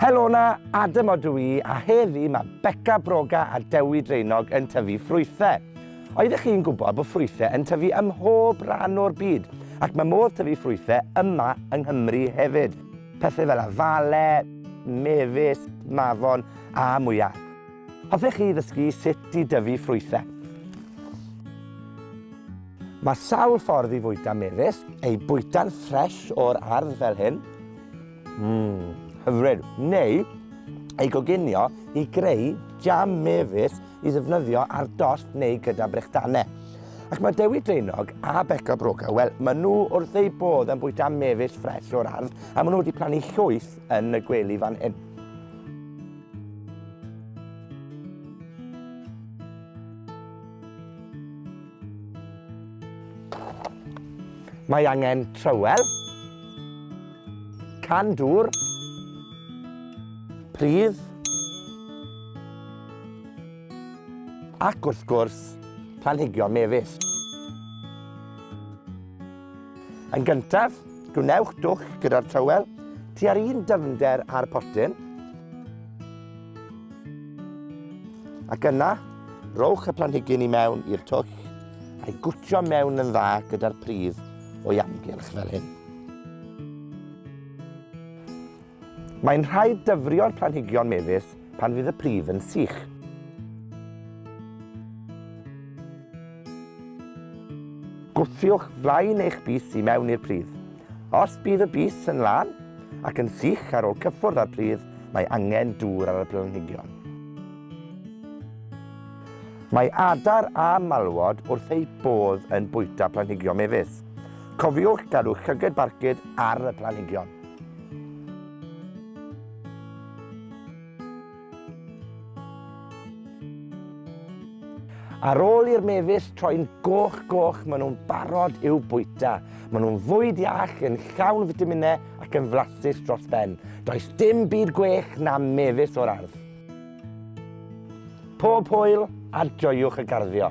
Helo na, Adam o dwi i, a heddi mae Beca Broga a Dewi Dreinog yn tyfu ffrwythau. Oeddech chi'n gwybod bod ffrwythau yn tyfu ym mhob rhan o'r byd, ac mae modd tyfu ffrwythau yma yng Nghymru hefyd. Pethau fel afale, mefus, mafon a mwyar. Hoffech chi ddysgu sut i dyfu ffrwythau? Mae sawl ffordd i fwyta mefus, eu bwyta'n ffresh o'r ardd fel hyn, mmm, hyfryd, neu ei goginio i greu jam mefus i ddefnyddio ar dost neu gyda brechdanau. Ac mae Dewi Draenog a Beca Broga, wel, maen nhw wrth eu bodd yn bwyta mefus ffres o'r ardd, a maen nhw wedi plannu llwyth yn y gwely fan hyn. Mae angen trywel, can dŵr, pridd, ac wrth gwrs, planhigion mefus. Yn gyntaf, gwnewch dwll gyda'r trywel tua'r un dyfnder â'r potyn. Ac yna, rowch y planhigyn i mewn i'r twll a'i gwtio mewn yn dda gyda'r pridd o'i amgylch fel hyn. Mae'n rhaid dyfrio'r planhigion mefus pan fydd y pridd yn sych. Gwthiwch flaen eich bys i mewn i'r pridd. Os bydd y bys yn lân ac yn sych ar ôl cyffwrdd â'r pridd, mae angen dŵr ar y planhigion. Mae adar a malwod wrth eu bodd yn bwyta planhigion mefus. Cofiwch gadw llyged barcud ar y planhigion. Ar ôl i'r mefus troi'n goch goch, maen nhw'n barod i'w bwyta. Maen nhw'n fwyd iach, yn llawn fitaminau ac yn flasus dros ben. Does dim byd gwech na mefus o'r ardd. Pob hwyl a joiwch y garddio.